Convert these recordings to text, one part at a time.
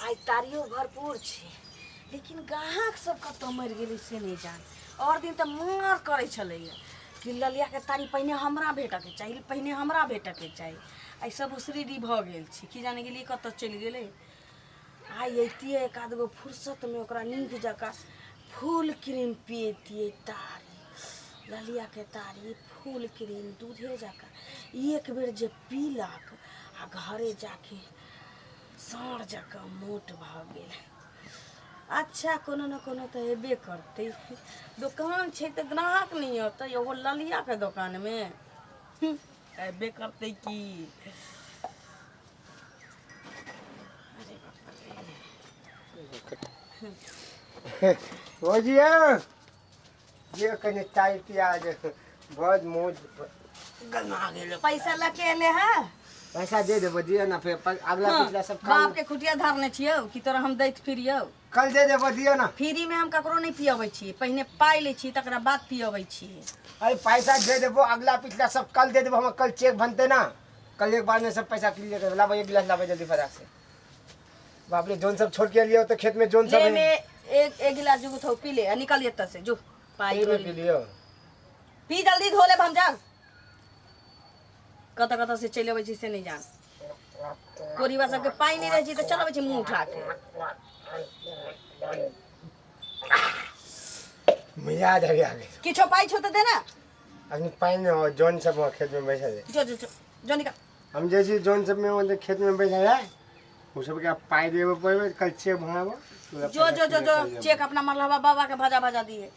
आइ तारियो भरपूर छै लेकिन गाहक सब कतऽ मरि गेलै से नहि जान आओर दिन तऽ मार करै छलैया कि ललियाके तारी पहिने हमरा भेटऽके चाही पहिने हमरा भेटऽके चाही आइ सब उसरीडी भऽ गेल छी कि जाने गेलियै कतऽ चलि गेलै आइ अइतियै एक आध गो फुर्सतमे ओकरा नीक जकाँ फूल क्रीम पियतियै तारी ललियाके तारी फूल क्रीम दूधे जकाँ एक बेर जे पीलक आ घरे जाके साँढ़ जकाँ मोट भऽ गेल अच्छा कोनो ने कोनो तऽ हेबे करतै दोकान छै तऽ ग्राहक नहि अतै ओहो ललियाके दोकानमे अबे करते की हो जिया जे कने चाय पिया जे बहुत मौज गरमा गेल पैसा लके एले है पैसा दे देबो दिया ना फिर पर- अगला हाँ, पिछला सब काम बाप के खुटिया धरने छियौ कि तोरा हम दैत फिरियौ कल दे देबो दियो ना फ्री में हम ककरो नहीं पियबै छी पहिने पाई ले छी तकरा बाद पियबै छी अरे पैसा दे देबो अगला पिछला सब कल दे देबो हम कल चेक बनते ना कल एक बार में सब पैसा क्लियर कर लाबो एक गिलास लाबो जल्दी फटाक से बाप रे जोन सब छोड़ के लिए तो खेत में जोन सब ले है में एक एक गिलास जुगु थौ पी ले आ निकल एत से जो पाई ये धो में ले। पी लियो पी जल्दी धो ले हम जान कत कत से चले अबै छी से नहीं जान कोरिबा सबके पाइ नहि रहै छै तऽ चलबै छै मुँह उठा के मजा आ जाएगा आगे किछो पाइ छौ तऽ दे ने अभी पानि हो जौन सब वहाँ खेत में बैठल है जो जो जो जो निकाल हम जे छी जौन सब में वहाँ खेत में बैठल है उ सबके आब पाइ देबे पड़बे कल चेक भराबो जो जो जो जो चेक अपना मरलहबा बाबा के भजा भजा दिए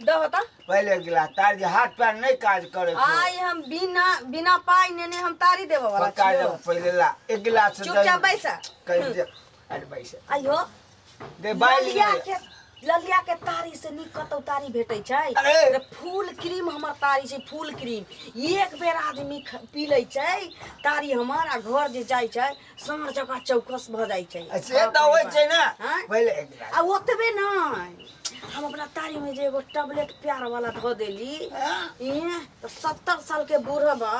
दह त पहिले गिला तार जे हाथ पैर नहीं काज करे छो आइ हम बिना बिना पाइ नेने हम तारी देबऽ वाला पक्का छियौ। जब पहिले ला एक गिलास से चुपचाप दही बैसा कहीं दे अरे बैसे आइयो दे बाइल ललिया ले। के ललिया के तारी से नीक कतौ तारी भेटै छै अरे! अरे फूल क्रीम हमर तारी छै फूल क्रीम एक बेर आदमी ख- पी लै छै तारी हमर आ घर जे जाइ छै साँझ जगह चौकस भऽ जाइ छै आ से तऽ होइ छै ने हाँ? पहिले एक गिलास। आ ओतबे नहि हम अपना तारी में जे एगो टैबलेट प्यार वाला धऽ देली हाँ? इहें तो सत्तर साल के बूढ़ा बा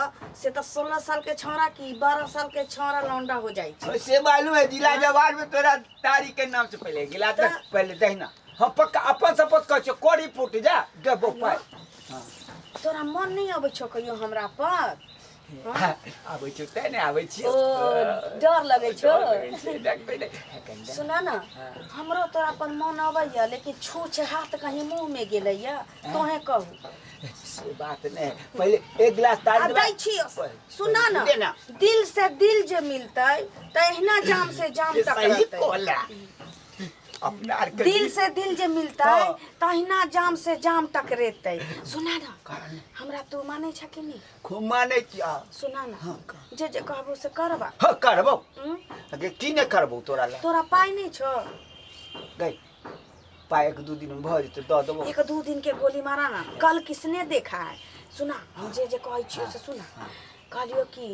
से तो सोलह साल के छौड़ा की बारह साल के छौड़ा लौंडा हो जाइ छै और से मालूम है जिला जवान में तोरा तारी के नाम से पहले एक गिलास दे, तो- पहले दहिना हम पक्का अपन शपथ कर छो कोरी फूट जा देबो पाई तोरा मन नहीं अबै छौ कहियो हमरा पर आबै छौ तै ने आबै छियौ ओ डर लगै छौ डरबै ने सुना ना हमरो तोरा पर मन अबैया लेकिन छू छे हाथ कहीं मुंह में गेलैया तोहे कहू से बात ने पहिले एक गिलास आ तारी दै छियो सुना ना ले ना। दिल से दिल जे मिलतै त एहिना जाम से जाम तक सही रहतै कोला अपना आर के दिल से दिल जे मिलतै हाँ। तहिना जाम से जाम टकरेतै सुना ना हमरा तू मानै छ कि नहीं खूब मानै छी आ सुना ना हाँ, का? जे जे कहबो से करबा ह करबौ हम्म? अगे की नहि करबौ तोरा लए तोरा पाइ नहि छौ गै पाइ एक दू दिन भऽ जेतौ दऽ देबौ एक दू दिन के गोली मारा ना कल किसने देखा है सुना हम जे जे कहै छियो से सुना कहलियो कि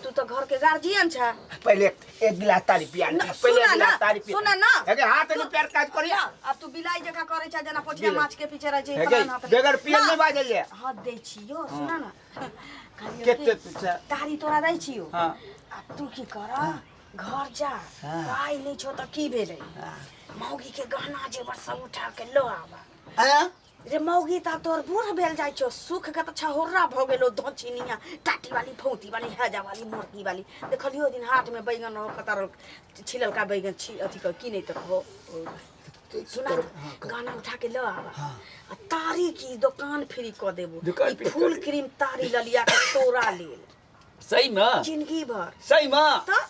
तू तो घर के गार्जियन छ पहिले एक गिलास तारी पिया ले, ना, पहिले सुना एक ना, गिलास तारी पिया सुना ना। हेगे हाथ नहीं पैर काज करी जा, अब तू बिलाई जका करे छा जना पोठिया बिलाई। माछ के पीछे रह जे हेगे बेगर पिया नहीं बाजे ले हाथ दे छियो सुना ना कहलियो के कि, के पीछे तारी तोरा दे छियो हां अब तू की कर घर जा हाँ। पाई नहीं छो तो की भेले मौगी के गहना जेवर सब उठा के लो आवा हैं रे मौगी ता तोर बूढ़ भेल जाइ छौ सुख के तऽ छहोर्रा भऽ गेलो धोछिनिया टाटी वाली फौती वाली हैजा वाली मोरकी वाली देखलियो ओहि दिन हाट में बैगन रहो कतर छिललका बैगन छी अथी कर की नहीं तो रहो सुना कर- हाँ, कर। गाना उठा के लो आवा हाँ। आ तारी की दुकान फ्री क देबो दुकान ई फ्री फूल कर क्रीम तारी ललिया के तोरा लेल सही में जिंदगी भर सही में तऽ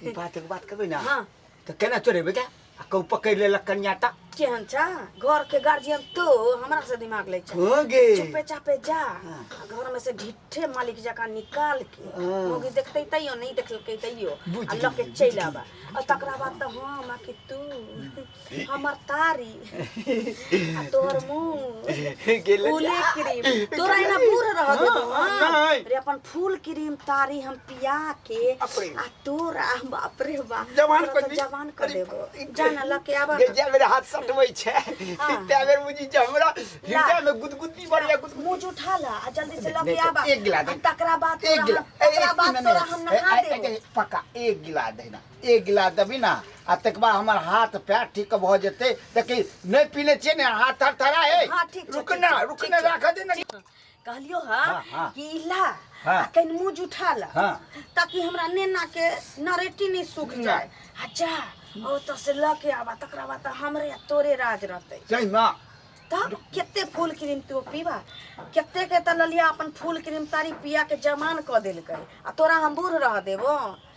ई बात एक बात कहबे ना हाँ तो केना चढ़ेबे के आ कहूँ पकड़ लेलक कन्या तक केहन छा घर के गार्जियन तो हमरा से दिमाग लै छै हो गे चुपे चापे जा हाँ। आ घर में से ढिठे मालिक जका निकाल के हाँ। मौगी देखते तैयो नहीं देखलकै तैयो बुझि आ लऽ के गेलियै, चलि बुझि आबा आ तकरा बाद तऽ हम आ कि तू हमर तारी आ तोहर मुंह गेले फूले क्रीम तोरा एना बूढ़ रह देबो हाँ, हाँ। नहीं। रे अपन फूल क्रीम तारी हम पिया के अपरे। आ तोरा बाप रे बाप जवान तोरा कर तो दी। जवान कर अरे, देबो ई- जान लके आबा जे जे मेरा हाथ सटबै छै हाँ। तै बेर बुझी जे हमरा हृदय में गुदगुदी बढ़िया गुदगुदी मुंह जुठा ला आ जल्दी से लके आबा एक गिलास आ तकरा बाद एक तोरा गिलास हम- तकरा बाद तोरा हम नहा देबो पक्का एक गिलास देना एक गिलास देबी ने आ तकर बाद हमर हाथ पैर ठीक भऽ जेतै देखी नहि पीने छियै ने हाथ थर थरा हे हाँ, ठीक छै, रुक ठीक ना छै, रुक ठीक ना छै। राख दे ना कहलियो हा हाँ, हाँ। कि ला हाँ। आ कनि मुँह जुठा ला हाँ। ताकि हमरा नेना के नरेटी नहीं सूख जाए आ जा ओ तो से ल के आबा तकरा बाद तो हमरे आ तोरे राज रहते सही ना तब केते फूल क्रीम तू पीबा केते के त ललिया अपन फूल क्रीम तारी पिया के जमान क देलकै आ तोरा हम बूढ़ रह देबो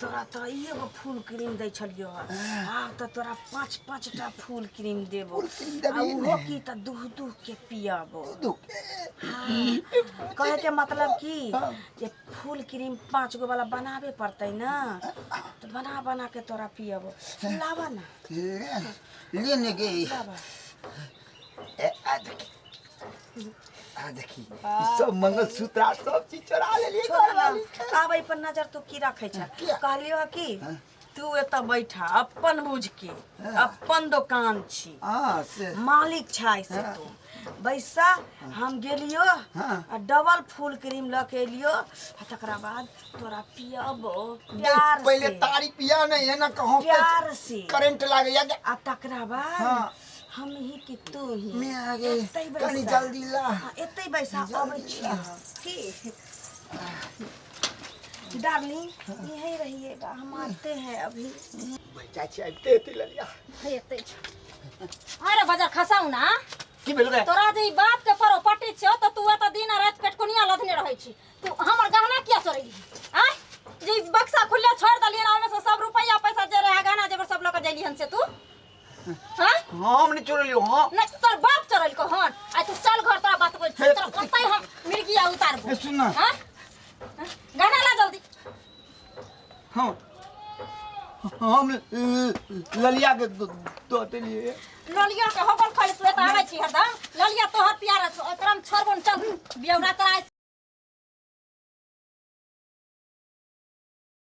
तोरा तो एगो फूल क्रीम दै छलियो हँ आब तऽ तोरा पाँच पाँच टा फूल क्रीम देबो फूल क्रीम आ देबही ओहो की तऽ दूह दूह के पियाबो दुख हाँ, कहे के मतलब की जे फूल क्रीम पाँच गो वाला बनाबे पड़तै ना तो बना बना के तोरा पियाबो लाबा ना ले ले ने गे लाबा ए, आ देखी आ देखी ई सब मंगलसूत्र आ सब चीज चोरा लेलिए छोड़ ना आबै पर नजर तू की रखे छ किया? कहलियो ह कि हाँ। तू एतऽ बैठा अपन बुझ के हाँ। अपन दुकान छी हां से मालिक छै से हाँ। तू बैसा हम गेलियो हाँ। आ डबल फूल क्रीम लऽ के एलियो आ तकरा बाद तोरा पियबो प्यार पहले से तारी पिया नहीं है ना कहो प्यार से करंट लागे या आ तकरा बाद हाँ। हमही कि तू ही मैं आ गई एतै बैसा। कनी जल्दी ला हाँ, एतै बैसा अबै छी की डार्लिंग यहीं रहिएगा हम आते हैं अभी बच्चा छी आबिते हेतै ललिया एतै अरे बजार खसाउ ना की भेल रे तोरा जे ई बाप के परो पटे छौ त तू एत दिन आ रात पेटकुनिया लधने रहै छी तू हमर गहना किया चोरैली आय जे ई बक्सा खुले छोड़ देलियन ओमे से सब रुपैया पैसा जे रहे गहना जेबर सब लऽ के जैली हन से तू हम नहीं चोर लियो हां नहीं तो तोर बाप चोर लियो हां आ तू चल घर तोरा बात बोल तोरा कतई हम मिर्गिया उतार दे सुन ना हां गाना ला जल्दी हां हम ललिया के दोते लिए ललिया के होबल खले तू त आवे छी हरदम ललिया तोहर प्यारा छ तोरा हम छोड़बन चल बियौरा तोरा